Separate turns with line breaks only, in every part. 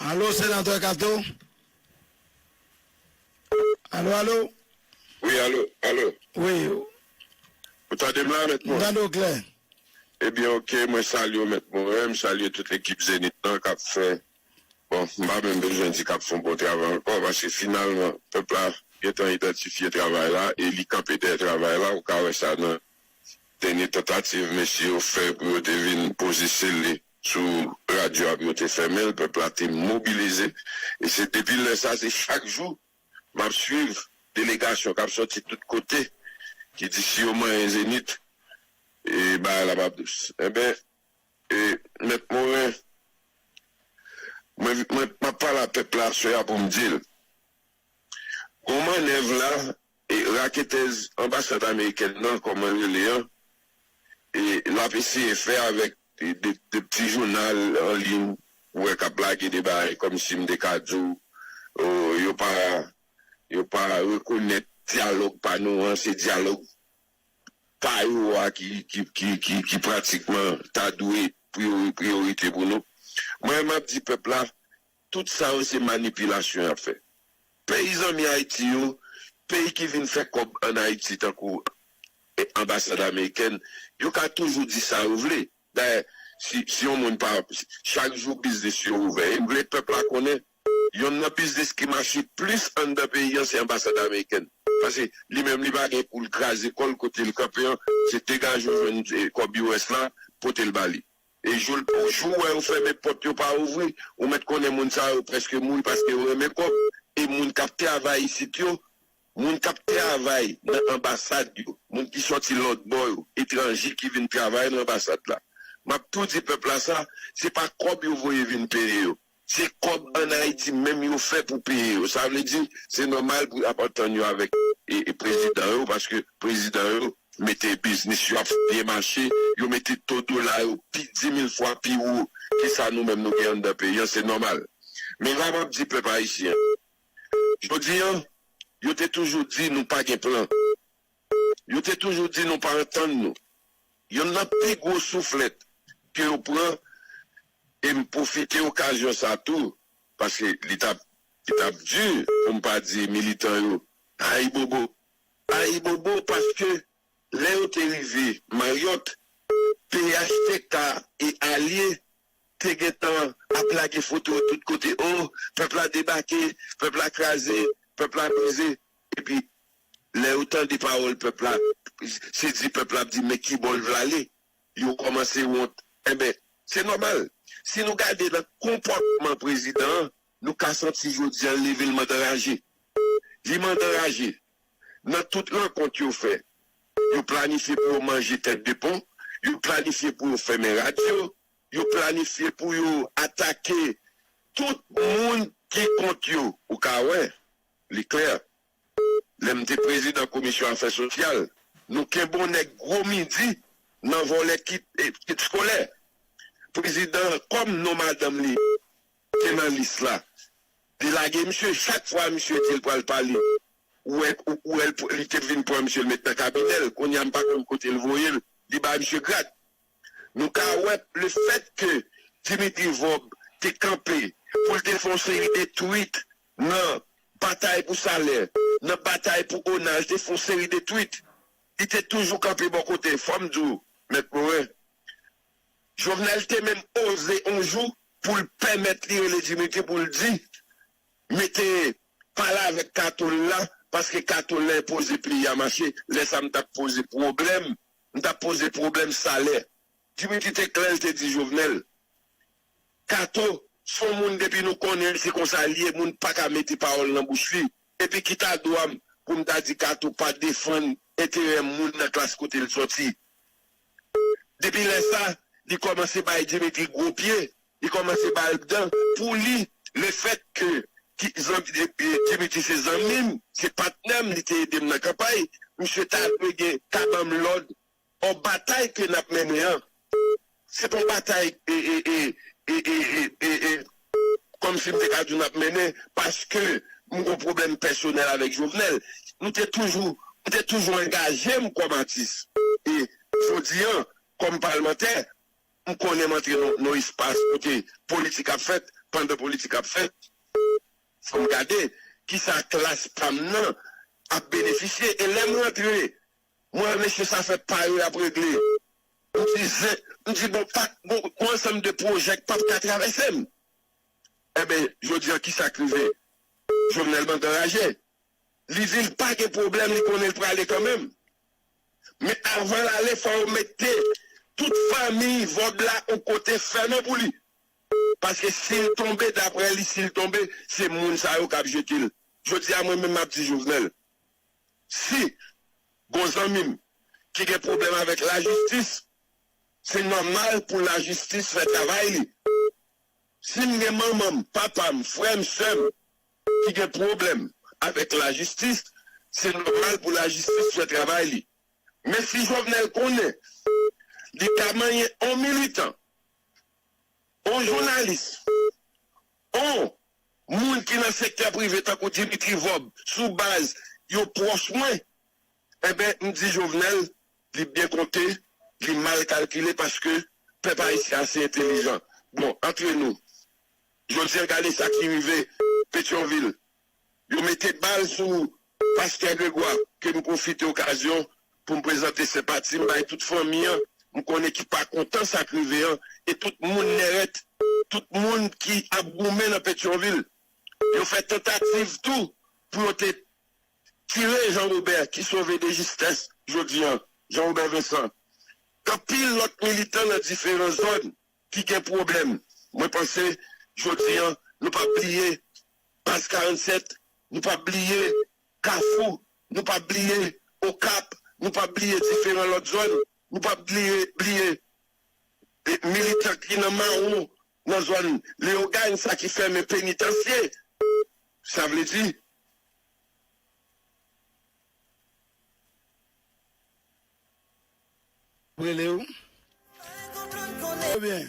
Alo senatè kato alo alo. Wi
alo alo. Wi. Ou tande m la mèt mwen? M tande w klè.
Ebyen ok
mwen salye w mèt mwen, m salye tout ekip Zenith lan kap fè bon m pa menm bezwen di kap fè yon bon travay ankò paske finalman pèp la gentan idantifye travay la e li kanpe dèyè travay la ou ka wè sa nan Dènye tantativ mesye yo fè pou yo te vin poze sele sou radyo a pou yo te fèmen l, pèp la te mobilize. E se depi lè sa a, se chak jou m ap suiv delegasyon k ap soti tout kote ki di si yo manyen Zenith e bagay la p ap dous. Enben, e Mèt Morin, mwen m ap pale a pèp la aswè a pou m di l, Bon manèv la e raketèz anbasad amerikèn nan kòman l rele an e l ap eseye fè avèk de pti jounal an liy ou wè k ap lage de bagay kòmsi m te ka di w yo pa yo pa rekonèt dyalòg pa nou an se dyalòg pa yo a ki ki ki ki pratikman ta dwe priyorite pou nou mwen m ap di pèp la Tout sa yo se manipilasyon yap fè peyi zanmi Ayiti yo, peyi ki vin fè kòb an Ayiti tankou anbasad amerikèn yo ka toujou di sa yo vle dayè si si yon moun pa chak jou biznis yo ouvè em vle pèp la konnen yonn nan biznis ki mache plis anndan peyi an se anbasad amerikèn pase li menm li pa gen poul kraze kòl kotel kanpe an se degaje ou jwenn kòb us la potel ba li. E jou l pou jou wè yo fèmen pòt yo pa ouvri, ou mèt konnen moun sa yo prèske mouri paske yo renmen kòb, e moun k ap travay isit yo, moun k ap travay nan anbasad yo, moun ki sòti lòtbò yo, etranje ki vin travay nan anbasad la, m ap tou di pèp la sa, se pa kòb yo voye vin peye yo, Se kòb an Ayiti menm yo fè pou peye yo. Sa vle di, se nòmal pou y ap antann yo avèk prezidan yo paske prezidan yo mete biznis yo ap byen mache, yo mete to dola yo pi dimil fwa pi wo ke sa nou menm nou gen anndan peyi an, se nòmal. Men la m ap di pèp ayisyen an, jodi an, yo te toujou di nou pa gen plan. Yo te toujou di nou pa antann nou. Yonn nan pi gwo souflèt ke yo pran, e m pwofite okazyon sa tou, paske li t ap li t ap di, pou m pa di militan yo, ayibobo. Ayibobo paske lè yo te rive Maryòt, phtk e alye te gen tan ap lage foto tout kote, o, pèp la debake, pèp la kraze, pèp la brize. Epi lè yo tande pawòl pèp la, se di pèp la ap di men kibò l vle ale, yo kòmanse wont. Enben, se nòmal. Si nou gade nan konpòtman prezidan an, nou ka santi jodi a l leve l mand anraje. Li mand anraje. Nan tout rankont yo fè, yo planifye pou yo manje tèt de pon, yo planifye pou yo fèmen radyo, yo planifye pou yo atake tout moun ki kont yo. Ou ka wè, Li klè, lè m te prezidan komisyon afè sosyal, nou kenbon nèg gwo midi nan vòlè kit kit skolè. Prezidan kòm non madanm li te nan lis la, li lage misye chak fwa misye di l pral pale ou wè ou wè li te vin pran misye l met nan kabinè l. Kounya m pa konn kote l voye l, li bay misye grad. Nou ka wè lefètke Dimitri Vorbe te kanpe pou l te fè yon seri de tweet nan batay pou salè, nan batay pou ona, li te fè yon seri de tweet. Li te toujou kanpe bò kote. Fò m di w, Mèt Morin, Jovenel te menm oze yon jou pou l pèmèt li rele Dimitri pou l di, Mete pale avèk Kato l la, paske Kato l la enpoze peyi a mache. Lè sa a m t ap poze pwoblèm m tap poze pwoblèm salè. Dimitri te klè l te di Jovenel Kato s on moun depi nou konnen l se konsa l ye moun paka mete pawòl nan bouch li epi ki ta dwa m pou m ta di Kato pa defann enterè moun nan klas kote l sòti. Depi lè sa li kòmanse bay Dimitri gwo pye. Li kòmanse ba l bdan pou li le fèt ke Dimitri se zanmi m, se patnè m, li te ede m nan kanpay, misye ta dwe gen ta ban m lòd ò batay ke n ap mennen an se pa yon batay e kòm si m te ka di w n ap mennen paske m gen yon pwoblèm pèsonèl avèk Jovenel. Nou te toujou m te toujou angaje m kòm atis e jodi an kòm palmantè. M konnen m antre nan yon espas kote politik ap fèt, pandan politik ap fèt fò m gade kisa klas pa m nan ap benefisye e lè m rantre m wè mesye sa fè pa yo y ap regle m di zen m di bon pa bon yon ansanm de pwojè k pap ka travèse m enben jodi an kisa k rive Jovenel bank anraje li vin pa gen pwoblèm li konnen l prale kanmenm. Men avanl ale fò yo mete tout fanmiy vòb la on kote fèmen pou li. Paske sil tonbe daprè li sil tonbe se moun sa yo kap jetel. Jodia mwen menm map di Jovenel si gon zanmim ki gen pwoblèm avèk lajistis se nòmal pou lajistis fè travay li. Sim gen manmanm, papam, frèm, sèm ki gen pwoblèm avèk lajistis, se nòmal pou lajistis fè travay li. Men si Jovenel konnen li ka manyen on militan, on jounalis, on moun ki nan sektè prive tankou Dimitri Vorbe sou baz yo pwòch mwen, enben m di Jovenel li byen konte, li mal kalkile paske pèp ayisyen ase entelijan. Bon, antre nou. Jodi an gade sa ki rive Petyonvil. Yo mete bal sou Pastè Gregwa ke m pwofite okazyon pou m prezante senpati m bay tout fanmi an m konnen ki pa kontan sa k rive an e tout moun Nèrèt, tout moun ki ap goumen nan Petyonvil. Yo fè tantativ tou pou yo te tire Jean Robert ki sove de jistès jodi an, Jean Robert Vincent. Anpil lòt militan nan diferan zòn ki gen pwoblèm mwen panse jodi an nou pap bliye baz 47 nou pap bliye kafou nou pap bliye okap nou pap bliye diferan lòt zòn nou pap bliye bliye militan ki nan mawon nan zòn leogane sa ki fèmen penitansye sa vle di.
rele ou ou byen.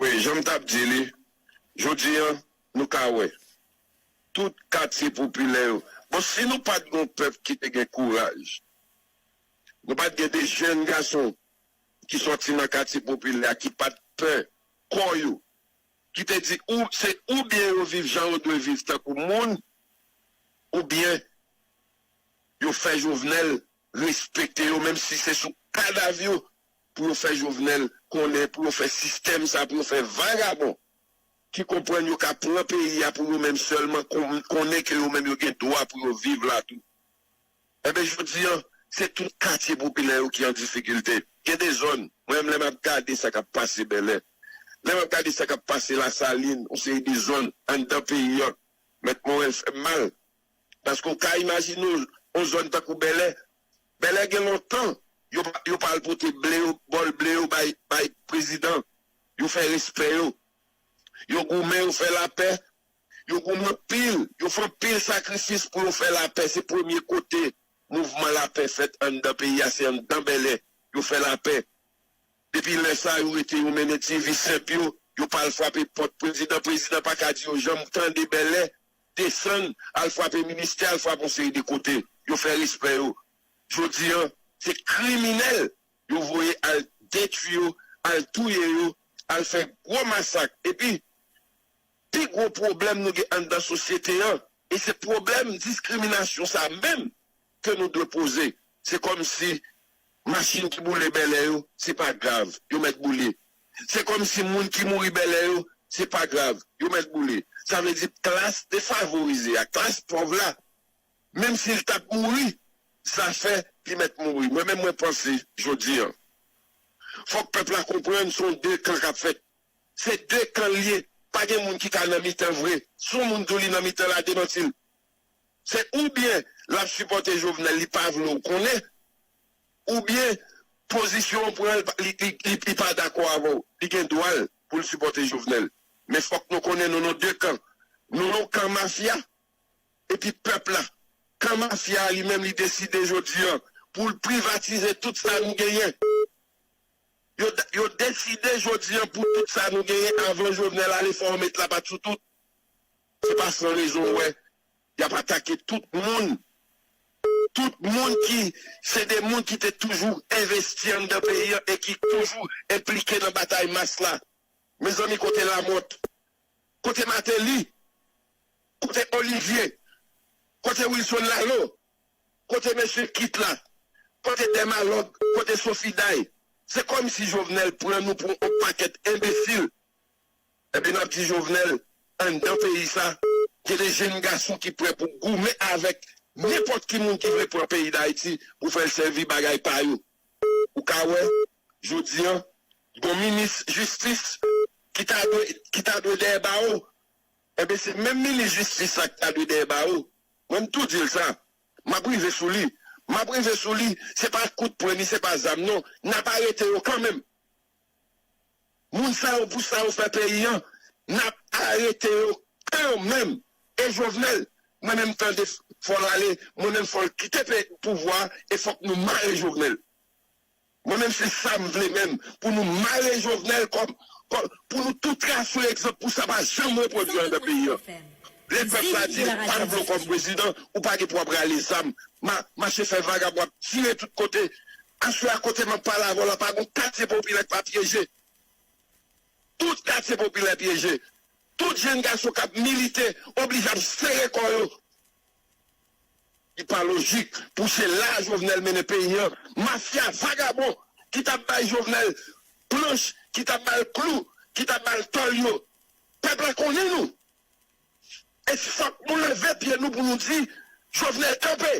Wi
janm tap di li jodi an nou ka wè tout katye popilè yo bon si nou pat gen yon pèp ki te gen kouraj nou pat gen de jèn gason ki sòti nan katye popilè a ki pat pè kò yo ki te di ou se ou byen yo viv jan yo dwe viv tankou moun ou byen yo fè jovenel respekte yo menm si se sou kadav yo pou yo fè Jovenel konnen pou yo fè sistèm sa pou yo fè vagabon ki konprann yo ka pran peyi a pou yo menm sèlman konnen ke yo menm yo gen dwa pou yo viv la tou enben jodi an se tout katye popilè yo ki an difikilte gen de zòn mwen menm lè map gade sa kap pase bèlè lè map gade sa kap pase lasalin yon seri de zòn anndan peyi an mèt morèl fèm mal. Paske w ka imajine w yon zòn tankou Bèlè. Bèlè gen lontan yo pa al pote ble yo, bòl ble yo bay prezidan. Yo fè respè yo. Yo goumen, yo fè lapè. Yo goumen anpil. Yo fè anpil sakrifis pou yo fè lapè. Se premye kote mouvman lapè fèt anndan peyi a, se anndan Bèlè. Yo fè lapè. Depi lè sa a, yo rete, yo mennen ti vi senp yo. Yo pa al frape pòt prezidan. Prezidan pa ka di yo janm tande Bèlè desann al frape ministè al frape yon seri de kote yo fè respè yo jodi an se kriminèl yo voye al detwi yo al touye yo al fè gwo masak epi pi gwo pwoblèm nou gen anndan sosyete an e se pwoblèm diskriminasyon sa menm ke nou dwe poze. Se kòm si machin ki boule Bèlè yo, se pa grav, yo mèt boule. Se kòm si moun ki mouri Bèlè yo, se pa grav, yo mèt boule. Sa vle di klas defavorize a, klas pòv la, menm si l t ap mouri, zafè li mèt mouri. Mwen menm mwen panse jodi an, fòk pèp la konprann se yon de kan k ap fèt. Se de kan l ye, pa gen moun ki ka nan mitan vre. Si yon moun di w li nan mitan la, demanti l. Se oubyen lap sipòte Jovenel li pa vle w konnen oubyen pozisyon w pran li pa dakò avè w. Li gen dwa l pou l sipòte Jovenel men fòk nou konnen nou nan 2 kan. Nou nan kan mafya epi pèp la. Kan mafya a li menm li deside jodi an pou l privatize tout sa nou genyen. Yo deside jodi an pou tout sa nou genyen avan Jovenel ale fò w met lapat sou tout. Se pa san rezon ou wè y ap atake tout moun, tout moun ki se de moun ki te toujou envesti anndan peyi an e ki toujou enplike nan batay mas la. Mezanmi kote Lamòt? Kote Mateli? Kote Olivye? Kote Wilson Laleau? Kote mesye Kit la? Kote Dèmalòg? Kote Sofiday? Se kòmsi Jovenel pran nou pou on pakèt enbesil Ebyen map di Jovenel anndan peyi sa gen de jenn gason ki prè pou goumen avèk nenpòt ki moun ki vle pran peyi Dayiti pou fèl sèvi bagay pa yo. Ou ka wè jodi an gon minis jistis ki ta dwe ki ta dwe dèyè bawo ebyen se menm minis jistis la ki ta dwe dèyè bawo. Mwen m tou dil sa map rive sou li map rive sou li se pa kout pwen ni se pa zam non nap arete yo kanmenm. Moun sa yo pou sa yo fè peyi an nap arete yo kan menm e jovenel mwen menm tande fòl ale mwen menm fòl kite pouvwa e fòk nou mare jovenel mwen menm se sam vle menm pou nou mare jovenel kòm pou nou tou trase yon egzanp pou sa pa janm repwodwi andan peyi an lè pèp la di yo pa vle w kòm prezidan ou pa gen pou wap rale zam mache fè vagabon ap tire tout kote Aswè a kote map pale avèw la pa gon katye popilè ki pa pyeje. Tout katye popilè pyeje. Tout jenn gason kap milite oblije ap sere kò yo. Li pa lojik pou se la Jovenel mennen peyi an. Mafya vagabon ki tap bay Jovenel planch, ki tap bal klou, ki tap bal tòl yo. Pèp la konnen nou. E fòk nou leve pye nou pou nou di Jovenel kanpe.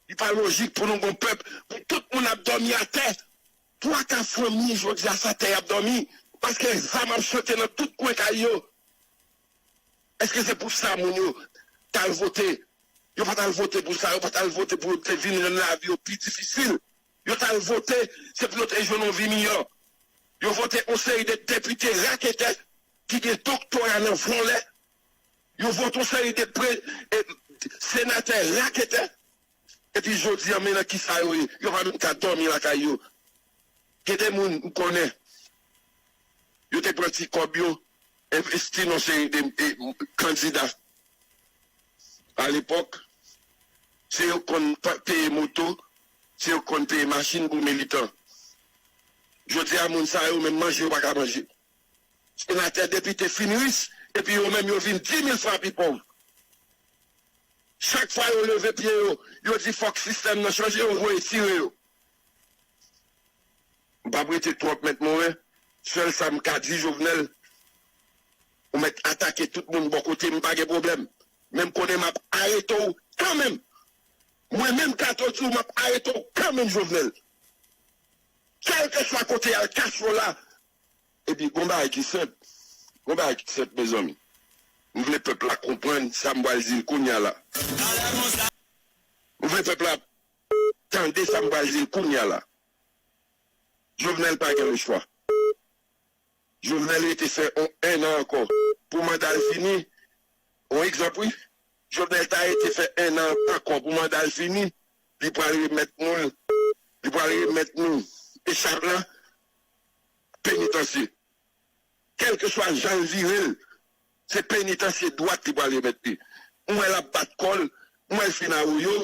Li pa lojik pou nou gon pèp pou tout moun ap dòmi atè, twa ka fanmi jodi a sa tè yap dòmi paske zam ap chante nan tout kwen kay yo, eske se pou sa moun yo tal vote, yo pa tal vote pou sa, yo pa tal vote pou yo te vin rann lavi yo pi difisil, yo tal vote se pou yo te jwenn yon vi miyò, yo vote yon seri de depite raketè ki gen doktora nan vòlè. Yo vote yon seri de senatè raketè epi jodi an men nan kisa yo ye, yo pa menm ka dòmi lakay yo. Gen de moun m konnen yo te pran ti kòb yo envesti nan yon seri de kandida alepòk, se yo k konn peye moto, se yo k konn peye machin pou militan. Jodi a moun sa yo menm manje yo pa ka manje. Senatè depite fin rich epi yo menm yo vin di mil fwa pi pòv. Chak fwa yo leve pye yo, yo di fòk sistèm nan chanje yo voye tire yo. M pap rete twòp mèt Morin, sèl sa m ka di Jovenel ou mèt atake tout moun bò kote m pa gen pwoblèm men m konnen map arete w kanmenm. Mwen menm Kato di w map arete w kanmenm Jovenel. Kèlkeswa kote y al Cash Rola Epi gon bagay ki senp, gon bagay ki senp mezanmi. M vle pèp la konprann sa m pral di l kounya la. M vle pèp la tande sa m pral di l kounya la. Jovenel pa gen lechwa. Jovenel rete fè on 1 an ankò pou manda l fini. On egzanp wi. Jovenel ta rete fè 1 an ankò pou manda l fini, li pral remèt nou l, li pral remèt nou echave la, penitansye. Kèlkeswa jan l vire l, se penitansye dwat li pral remèt li. M wè l ap bat kò l, m wè l fin awoyo,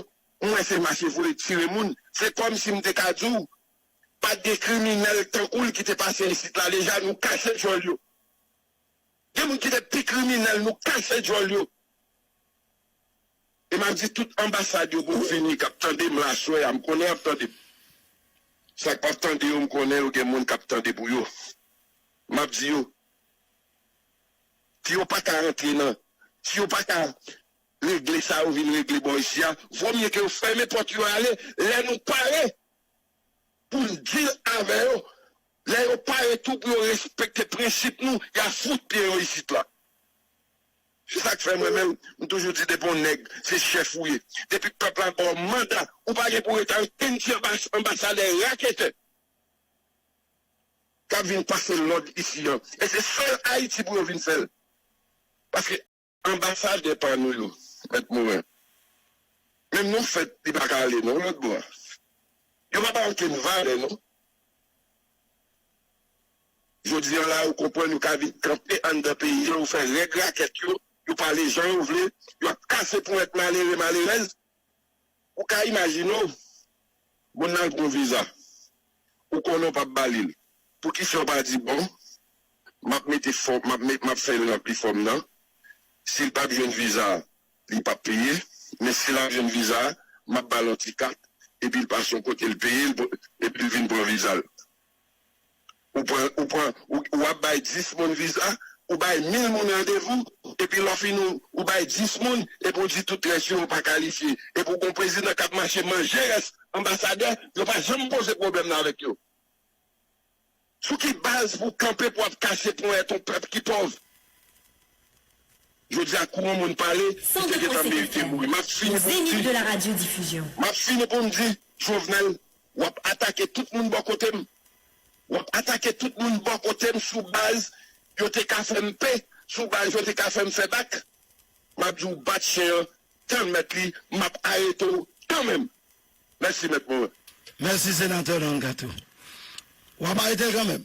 m wè se mache vole tire moun. Se kòmsi m te ka di w pa t gen kriminèl tankou l ki te pase isit la deja. Nou kache djòl yo. Gen moun ki te pi kriminèl, nou kache djòl yo. e map di tout anbasad yo pou vini kap tandem la aswè a m konnen yap tandem sak pap tande yo m konnen yo gen moun kap tande pou yo map di yo si yo paka rantre nan si yo paka regle sa yo vin regle bò isi a vo mye ke yo fèmen pòt yo ale lè nou pare poun deal avè yo lè yo pare tou pou yo respekte prensip nou ya fout pye yo isit la. Se sak fè mwen menm m toujou di depi yon nèg se chèf ou ye, depi pèp la baw manda ou pa gen pou rete ankenn ti anbasadè raketè kap vin pase lòd isi an e se sèl ayiti pou yo vin fèl paske anbasadè pa nou yo mèt moren menm non fèt li paka ale non lòt bò a yo pa baw ankenn valè non. Jodi an la ou konprann yo ka vin kanpe anndan peyi an, yo fè règ rakèt yo, yo pale jan yo vle, yo ap kase ponyèt malere, malerèz. Ou ka imajine w, moun nan al pran yon viza, ou konnen ou p ap ba li l, poukisa ou pa di bon, m ap mete fòm, m ap fè l ranpli fòm nan, si l pa p jwenn viza a, li p ap peye, men si l ap jwenn viza a, m ap ba l yon ti kat, epi l pase yon kote l peye, epi l vin pran viza l. Ou pran, ou pran, ou ou ap bay 10 moun viza, ou bay 1000 moun randevou, epi lè w fin ou ou bay 10 moun, epi ou di tout rès yo pa kalifye. Epi ou gon prezidan k ap mache manje rès anbasadè, yo pa janm poze pwoblèm nan avèk yo. Sou ki baz pou w kanpe pou w ap kase ponyèt yon pèp ki pòv? Jodi a kou yon moun pale, li te gentan merite
mouri. M ap fini pou m di, m ap fini pou m
di, Jovenel W ap atake tout moun bò kote m. W ap atake tout moun bò kote m sou baz yo te ka fè m pe, sou baz yo te ka fè m fè bak. M ap di w bat chen an tann mèt li, m ap arete w kanmenm. Mèsi Mèt Morin. Mèsi Senatè
Don Kato. W ap arete l kanmenm.